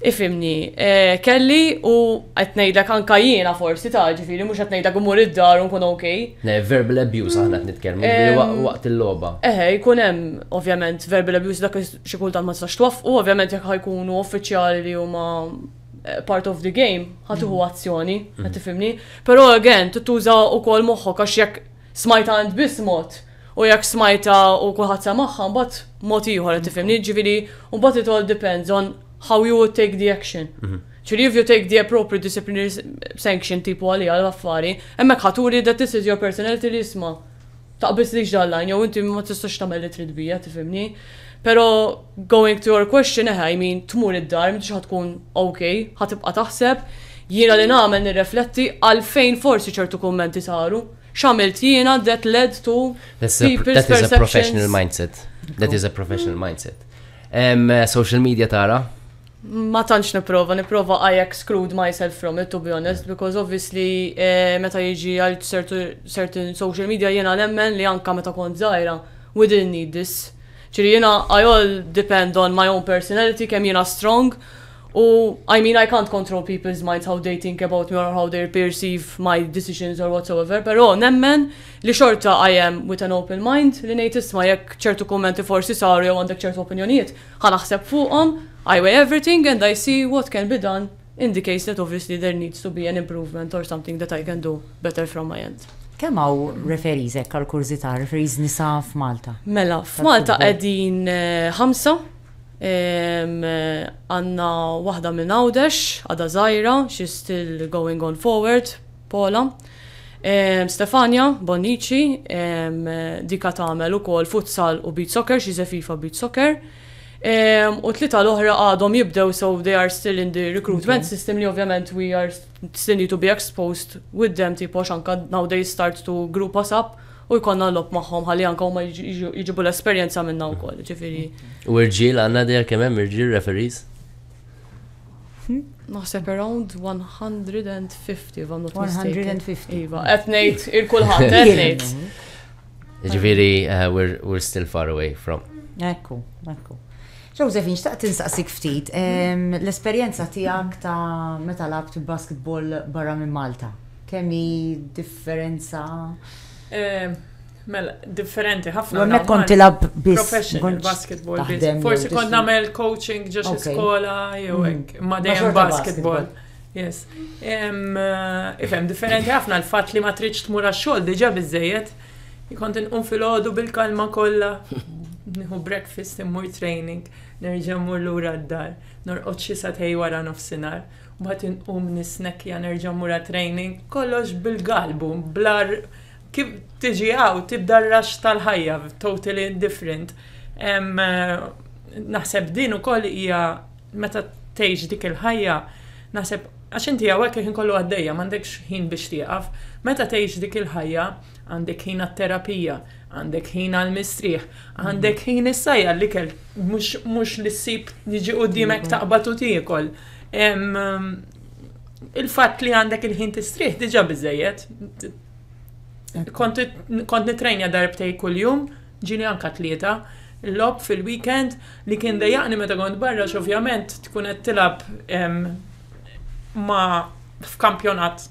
Ifimni, eh, kelli u qed ngħidlek anka jiena forsi ta' ġifieri mhux qed ngħidlek imur id-dar u nkun ok. Ne, verbal abuse aħna qed nitkellmu eh, waqt il-logħba. Eħe, eh, jkun hemm ovvjament verbal abuse dak xi kultant ma tistax twaffqu, ovvjament jekk ħajkunu uffiċjali li huma part of the game, ħatuħu mm. azzjoni, mm. għet tifimni. Pero again, tuża u kol moħħok, għax jek smajta għand bis mod, u jek smajta u kullħat samaħħa, mbat mod iħor, għet tifimni, mm. ġivili, u bat it all depends on how you would take the action. Mm-hmm. Ċiri if you take the appropriate disciplinary sanction tipu għalija għal-affari, emmek ħaturi that this is your personality li jisma. taqbiżlix dan l-għan jew inti ma tistax tagħmel li trid bija, tifhimni. Però going to your question, eh, I mean, tmur id-dar, m'intix ħa tkun ok, ħa tibqa' taħseb, jiena li nagħmel nirrefletti għalfejn forsi ċertu kummenti saru. X'għamilt jiena that led to people's perceptions. That is a professional mindset. That is a professional mindset. Um, social media tara? Ma tantx nipprova, nipprova I exclude myself from it to be honest because obviously eh, meta jiġi għal certain social media jiena nemmen li anka meta kont żgħira we didn't need this. Ċiri jiena I all depend on my own personality kemm jiena strong u I mean I can't control people's minds how they think about me or how they perceive my decisions or whatsoever, però nemmen li xorta I am with an open mind li ngħid isma' jekk ċertu kummenti forsi saru jew għandek ċertu opinjonijiet, Ħa naħseb fuqhom, I weigh everything and I see what can be done in the case that obviously there needs to be an improvement or something that I can do better from my end. Kemm hawn referees hekk għal kurżità, referees nisa f'Malta? Mela, f'Malta qegħdin ħamsa. Għandna waħda minn Għawdex, għadha żgħira, she's still going on forward. Pola, Stefania, Bonnici, dika tagħmel ukoll futsal u beach soccer, she's a FIFA beach soccer. U tlita l-oħra għadhom jibdew so they are still in the recruitment system li ovvjament we are still need to be exposed with them tipo xanka now they start to group us up u jkonna lob magħhom ħalli anka huma jġibu l-esperjenza minna wkoll, ġifieri. U irġiel għandna dejja kemm hemm irġiel referees? Naħseb around 150 if I'm not mistaken. 150. Iva, qed ngħid il-kulħadd qed ngħid. Ġifieri uh, we're, we're still far away from. Ekku, ekku. Joseph, nxtaqt tinsaqsik ftit, l-esperjenza tiegħek ta' meta labt basketball barra minn Malta, kemm hi differenza? Mela, differenti ħafna. Għammek kont tilab biss. Professional basketball. Forsi kont namel coaching ġox skola jew mm. hekk. Ma dejjem basketball. Yes. Eh, ifhem differenti ħafna l-fatt li ma tridx tmur għax-xogħol diġà biżejjed. Kont inqum fil-ħodu bil-kalma kollha. Nieħu breakfast immur training, nerġa' mmur lura d-dar, norqod xi satej wara nofsinhar bat inqum nisnek ja nerġa' mura training, kollox bil-galbu, blar Kif tiġi hawn tibda r-rush tal-ħajja, totally different. Naħseb din ukoll hija meta tgħix dik il-ħajja, naħseb għax inti hawnhekk il-ħin kollu għaddejja, m'għandekx ħin biex tieqaf. Meta tgħix dik il-ħajja, għandek ħin għat-terapija, għandek ħin għall-mistrieħ, għandek ħin issa għall-ikel, mhux li ssib jiġi quddiemek taqbad u tiekol. Il-fatt li għandek il-ħin tistrieħ diġà biżejjed, Kont nitrejnja darbtej kuljum, ġili anka tlieta, lob fil-weekend li kien dejjaqni meta kont barra x'ovvjament tkun qed tilgħab ma' f'kampjonat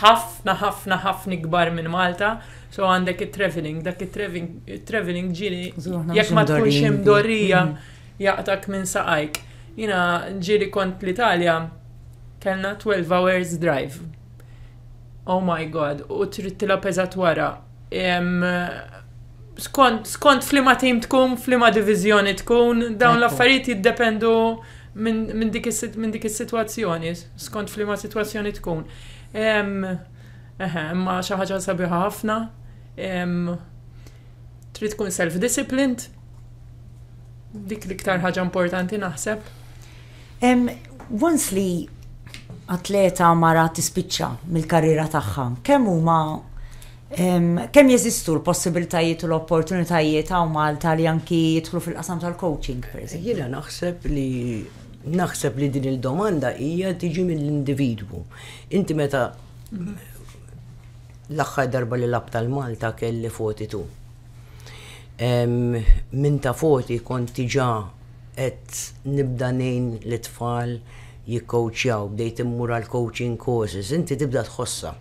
ħafna ħafna ħafna ikbar minn Malta, so għandek it-travelling, dak it-travelling ġieli jekk ma tkunx imdorrija jaqtak minn saqajk. Jiena ġieli kont l-Italja kellna 12 hours drive. Oh my god, u trid tila peżat wara. Skont, skont flima tim tkun, flima divizjoni tkun, dawn l-affarijiet jiddependu minn dik is-sitwazzjoni, skont flima sitwazzjoni tkun. Ma xi ħaġa sabiħa ħafna. Trid tkun self-disciplined. Dik l-iktar ħaġa importanti naħseb. Once li atleta mara tispiċċa mill-karriera tagħha, kemm huma kemm jeżistu l-possibilitajiet u l-opportunitajiet hawn Malta li anki jidħlu fil-qasam tal-coaching, pereżempju? Jiena naħseb li naħseb li din il-domanda hija tiġi mill-individwu. Inti meta l-aħħar darba li lab tal-Malta kelli 42. Minn ta' 40 kont tiġa qed nibda ngħin lit-tfal jikkowċjaw, bdejt immur għall-coaching courses, inti tibda tħossha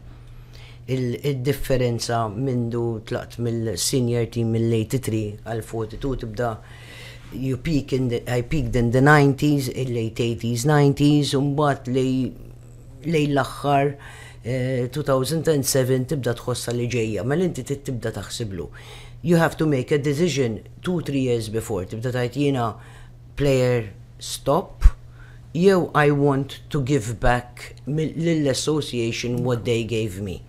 d-differenza mindu tlaqt mill-senior team mill-83 għall-42 tibda you peak in the, I peaked in the 90s, il-late 80s, 90s, u mbagħad lejn l-aħħar 2007 eh, tibda tħossha li ġejja, mela inti tibda taħsiblu. You have to make a decision two, three years before tibda tgħid jiena player stop jew I want to give back lill-association what they gave me.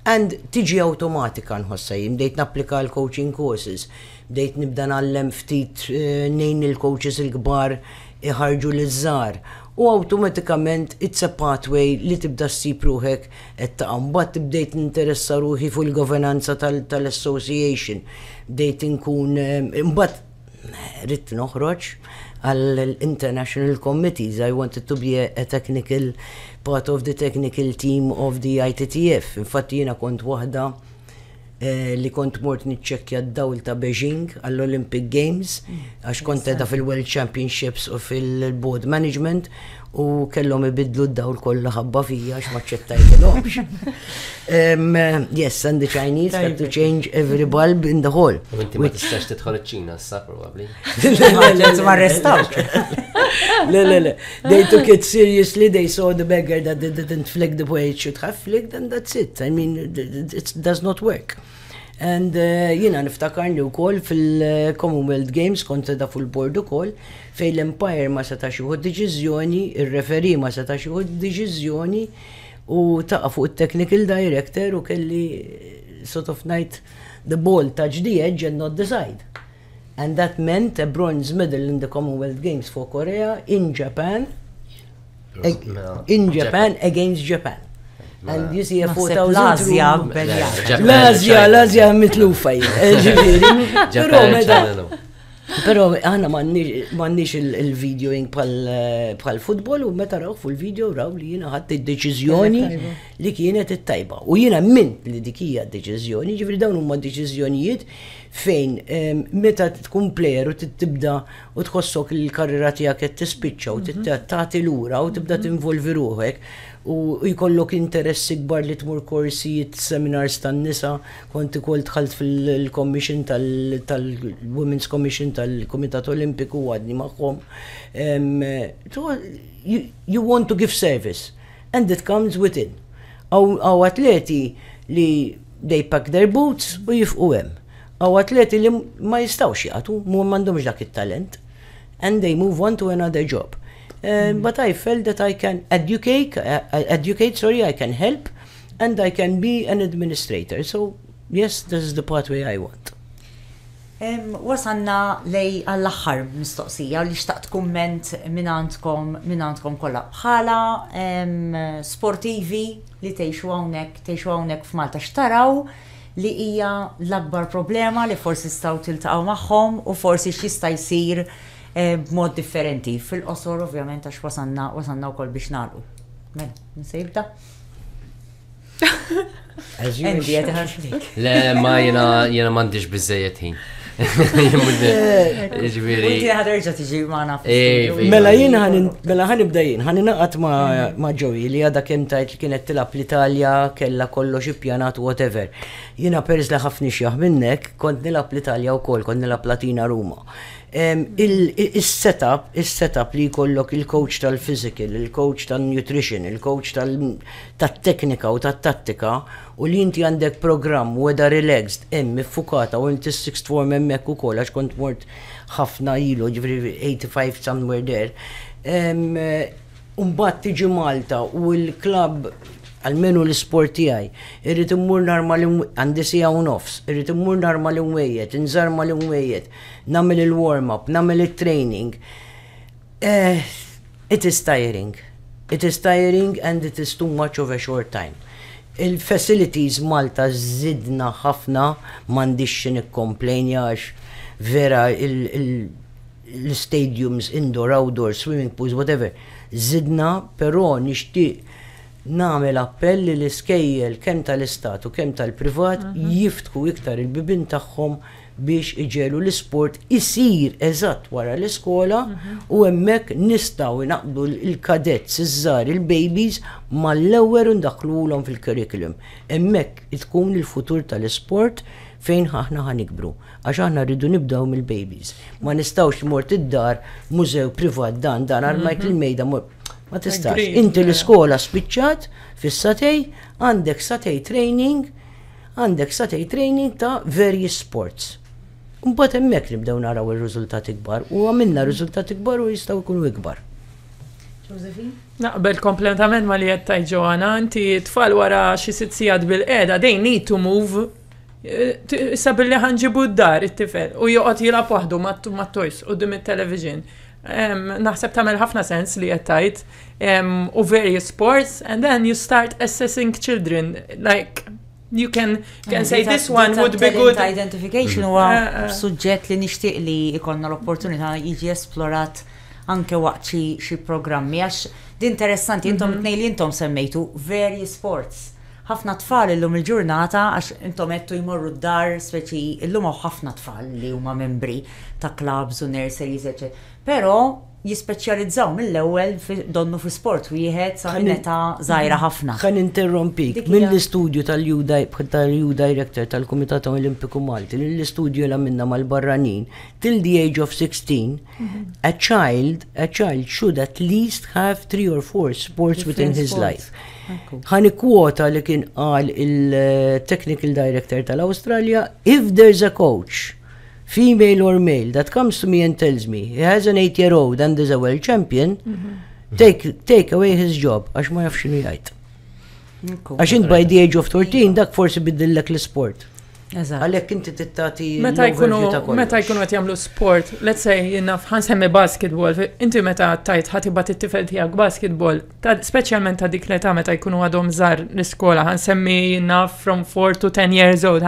And tiġi awtomatika nħossha jien, bdejt napplika għal coaching courses, bdejt nibda ngħallem ftit ngħin lill-coaches il-kbar iħarrġu liż-żgħar u awtomatikament it's a pathway li tibda ssib ruħek Qed taqa' mbagħad bdejt ninteressa ruħi fuq il-governanza tal-association. Bdejt inkun imbagħad ridt noħroġ għall-international committees. I wanted to be a technical part of the technical team of the ITTF. Infatti jiena kont waħda li kont mort niċċekkja d-dawl ta' Beijing għall-Olympic Games għax kont qiegħda fil-World Championships u fil-Board Management u kellhom ibidlu d-dawl kollu ħabba fija għax ma ċċettajtilhomx. Yes, and the Chinese had to change every bulb in the hall. Inti ma tistax tidħol iċ-Ċina s-sakru. Let's arrest out. Le, le, le. They took it seriously, they saw the beggar that they didn't flick the way it should have flicked, and that's it. I mean, it does not work. And uh, jina niftakarni u koll fil-Commonwealth Games kont da fil-bord u koll fej l-Empire ma seta xuħu deċizjoni, il-referi ma seta xuħu deċizjoni u taqa fuq il-technical director u kelli sort of night the ball touch the edge and not the side. and that meant a bronze medal in the Commonwealth Games for Korea in Japan in Japan against Japan. And you see a 4,000 L-Azja, L-Azja, L-Azja mitlufa Pero meta. Pero għana mannix il-video jink bħal futbol u meta raw fu l-video raw li jina ħadd id-deċizjoni li kienet it-tajba. U jina mint li dikija d-deċizjoni, ġifri dawn huma deċizjonijiet Fejn, meta tkun plejer u tibda u tħossok li l-karriera tiegħek qed tispiċċa u tagħti lura u tibda tinvolvi ruħek u jkollok interess ikbar li tmur korsijiet, seminars tan-nisa, kont ukoll dħalt fil-commission tal-Women's Commission tal-Kumitat Olimpiku u għadni magħhom, you want to give service. And it comes with in. Hawn atleti li they pack their boots u jifqu hemm. Hawn atleti li ma jistgħux jagħtu, m'għandhomx dak it-talent and they move on to another job. But I felt that I can educate, sorry, I can help and I can be an administrator. So yes, this is the pathway I want. Wasalna lejn għall-aħħar mistoqsija u li xtaqt kumment minn għandkom minn għandkom kollha. Bħala sportivi li tgħixu hawnhekk tgħixu hawnhekk f'Malta x'taraw li hija l-akbar problema li forsi tistgħu tiltaqgħu magħhom u forsi x'jista' jsir b'mod differenti? Fil-qosor ovvjament għax wasalna wasalna wkoll biex nagħlqu. Mela, min se jibda? Endi għet ħanslik. Le, ma jena jena mandiġ bizzejet ħin. Ġviri. Inti ħaderġa tiġi maħna. Mela jien mela ħan ibda jien, ħan naqat ma ġowi li għada kem tajt li kienet tilab l-Italja, kella kollox ippjanat, whatever. Jina perz li ħafni xjaħ minnek, kont nilab l-Italja u kol, kont nilab Latina Ruma. Il-setup, il-setup li kollok il-coach tal-physical, il-coach tal-nutrition, il-coach tal- tat-teknika u tat-tattika u li inti għandek programm weda relaxed hemm iffukata u inti s-sixth form hemmhekk ukoll għax kont mort ħafna ilu ġifieri 85 somewhere there ehm, u mbagħad tiġi Malta u l-klabb għalmenu l-isport tiegħi, irrid immur nhar mal għandi sija u nofs, irrid immur nhar mal-imwejjed, inżar mal-imwejjed, nagħmel il-warm-up, nagħmel it-training. It is tiring. It is tiring and it is too much of a short time. Il-facilities Malta żidna ħafna, m'għandix xi nikkopmplainja għax vera l-istadiums indoor, outdoor, swimming pools, whatever, żidna però nixtieq nagħmel appell li l-iskejjel kemm tal-Istat u kemm tal-privat jiftħu iktar il-bibien tagħhom biex iġegħlu l-isport isir eżatt wara l-iskola u hemmhekk nistgħu inaqqdu l-cadets iż-żgħar, il-babies, mal-lower u ndaħħluhulhom fil-curriculum. Hemmhekk tkun il-futur tal-isport fejn aħna ħa nikbru. Għax aħna rridu nibdew mill-babies. Ma nistgħux li mort id-dar, mużew privat dan, dan armajt il-mejda, ma tistax. Inti l-iskola spiċċat fis-satej, għandek satej training, Għandek sa tgħid training ta' various sports. Imbagħad hemmhekk nibdew naraw ir-riżultati kbar u għamilna riżultati kbar u jistgħu jkunu ikbar. Josephine? Naqbel kompletament ma li qed tajt Ġoana, inti tfal wara xi sitt sigħat bil-qiegħda they need to move. Issa billi ħanġibu d-dar it-tifel u joqgħod jilgħab waħdu mat-toys qudiem it-television. Naħseb tagħmel ħafna sens li qed tajt. um, or various sports, and then you start assessing children. Like, you can, can say this one would be good. Identification huwa eh, eh. suġġett li nixtieq li jkollna l-opportunità jiġi esplorat anke waqt xi programmi għax din interessanti intom mhm. tnej li intom semmejtu very sports. Ħafna tfal illum il-ġurnata għax intom qed jmorru d-dar speċi illum hawn ħafna tfal li huma membri ta' clubs u nurseries eċetera. Però jispeċjalizzaw mill-ewwel fi donnu fi sport wieħed sa minn età żgħira ħafna. Ħa ninterrompik. Mill-istudju tal-EU Director tal-Kumitat Olimpiku Malti, lill-istudju li għamilna mal-barranin, till the age of 16, a child, a child should at least have three or four sports within his life. Ħani kwota li kien qal il-Technical Director tal-Awstralja, if there's a coach female or male, that comes to me and tells me, he has an 8 year old and is a world champion, mhm. take, take away his job, għax ma jafx xinu jgħid. Għax int by the age of 13, dak forsi biddillek l-sport. Għalek inti tittati. Meta jkunu meta jkunu qed jagħmlu sport, let's say jiena ħansemmi basketball, inti meta tajt ħatibat it-tifel tiegħek basketball, speċjalment ta' dik l-età meta jkunu għadhom żar l-iskola, ħansemmi jiena from 4 to 10 years old,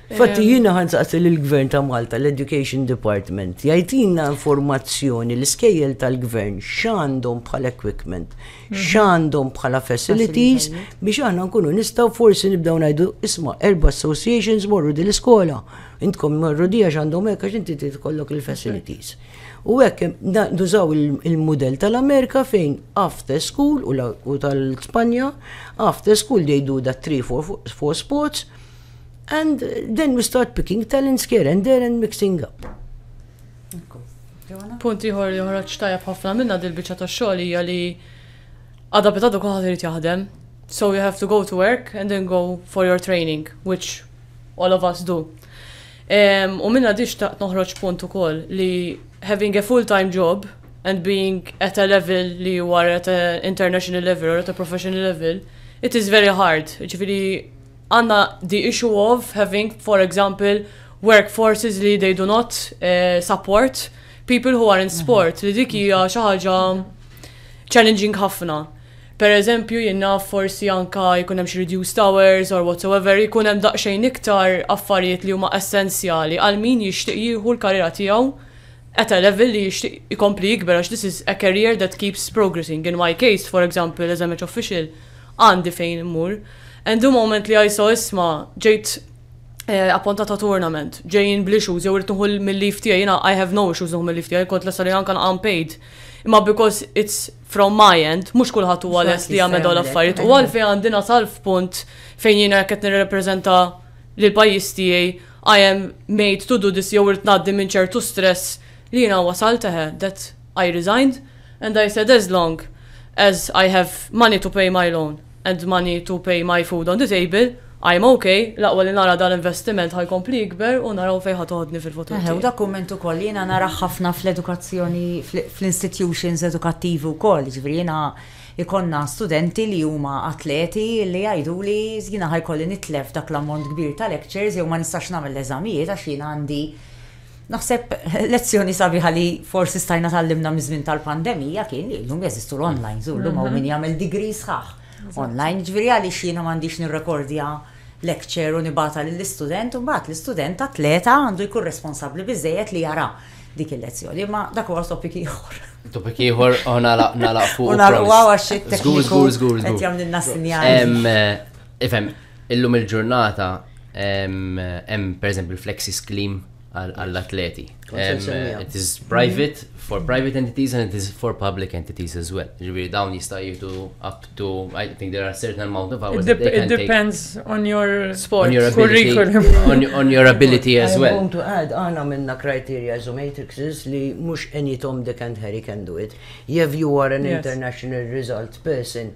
Fatti jiena ħan saqsi lill-Gvern ta' Malta, l-Education Department, jgħidilna informazzjoni l-iskejjel tal-Gvern x'għandhom bħala equipment, mhm. x'għandhom bħala facilities biex aħna nkunu nistgħu forsi nibdew ngħidu isma' erba' associations morru din l-iskola. Intkom morru di għax għandhom hekk għax inti tkollok il-facilities. U hekk nużaw il-mudell tal-Amerika fejn after school u tal-Spanja after school they do da 3 for sports And then we start picking talents here and there and mixing up. Punt ieħor li ħroġ tajjeb ħafna minna dil-biċċa ta' xogħol hija li għadha bit għadu kulħadd irid jaħdem. So you have to go to work and then go for your training, which all of us do. Um, u minna diċ ta' noħroġ punt ukoll li having a full-time job and being at a level li you are at an international level or at a professional level, it is very hard. Ġifiri, Għandna the issue of having, for example, workforces li they do not uh, support people who are in sport, li dik hija xi ħaġa challenging ħafna. Per eżempju, jenna forsi anka jkun hemm xi reduced hours or whatsoever, jkun hemm daqsxejn iktar affarijiet li huma essenzjali għal min jixtieq jieħu l-karriera tiegħu at a level li jixtieq ikompli jikber għax this is a career that keeps progressing. In my case, for example, as a match official, Għandi fejn immur. And the moment li ISO isma' ġejt eh, appuntat ta' tournament, ġejjin bl-issues jew irid nieħu mill-leave tiegħi, jiena I have no issues nieħu mill-leave tiegħi, kont lesta li anke unpaid. Imma because it's from my end, mhux kulħadd huwa lest li jagħmel dawn l-affarijiet. U għalfejn għandi nasal f'punt fejn jiena qed nirrepreżenta lil pajjiż tiegħi I am made to do this jew irid ngħaddi minn ċertu stress li jiena wasalt eħe, that I resigned and I said as long as I have money to pay my loan and money to pay my food on the table, I'm ok, l-aqwa li nara dan l-investiment ħa jkompli jikber u naraw fejn ħa toħodni fil-futur tiegħi. Eħe, u dak kumment ukoll jiena narah ħafna fl-edukazzjoni, fl-institutions edukattivi wkoll, jiġifieri jiena jkollna studenti li huma atleti li jgħiduli jiena ħa jkolli nitlef dak l-ammont kbir ta' lectures jew ma nistax nagħmel l-eżamijiet għax jiena għandi Naħseb lezzjoni sabiħa li forsi stajna tallimna miż-żmien tal-pandemija kien li llum jeżistu l-online, żur llum hawn min mhm. jagħmel degree sħaħ. Online ġifieri għaliex jiena m'għandix nirrekordja lecture u nibata lill-istudent u mbagħad l-istudent atleta għandu jkun responsabbli biżejjed li jara dik il-lezzjoni, imma dak huwa topik ieħor. Topik ieħor u oh, nagħlaq fuq. U nagħlaq għax it-tekniku. Żgur, żgur, żgur. Qed jagħmlilna sinjali. Ifhem, Illum il-ġurnata hemm pereżempju l-flexi scheme għall-atleti. It is private for private entities and it is for public entities as well. Ġifieri dawn jista' jieħdu up to I think there are certain amount of hours. It depends on your sport, on your ability, on, on your ability as well. I want to add għana minna criteria as matrices li mhux any Tom Dick and Harry can do it. If you are an yes. international result person,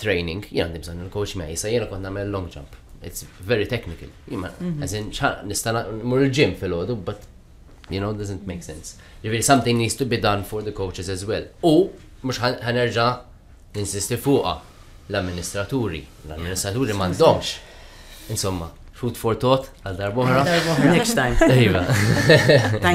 training, jien għandi bżonn il-coach miegħi, sa jiena kont nagħmel long jump. It's very technical. Jima, mhm. as in, nista' mur il-gym fil-ħodu, but you know, doesn't make sense. Ġifieri something needs to be done for the coaches as well. U mhux ħanerġa' ninsisti fuqha l-amministraturi. L-amministraturi m'għandhomx. Insomma, food for thought għal darbohra. Next time. Iva.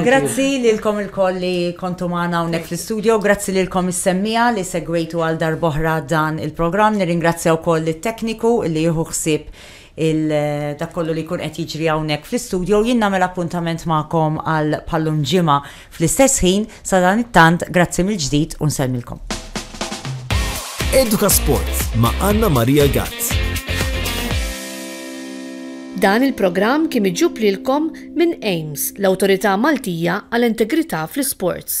Grazzi lilkom il-koll li kontu maħna unnek fl-studio, grazzi lilkom is-semmija li segwejtu għal darbohra dan il-programm, nirringrazzja wkoll it-tekniku li jieħu ħsieb il-dakollu li kun qed jiġri hawnhekk fl-istudio jien nagħmel appuntament magħkom għal pallum ġimgħa Fl-istess ħin, sadanittant, grazzi mill-ġdid u nsellmilkom. Edukasport ma' Anna Maria Gazz. Dan il-programm kien miġjub lilkom minn AIMS, l-Awtorità Maltija għal Integrità fl-Isports.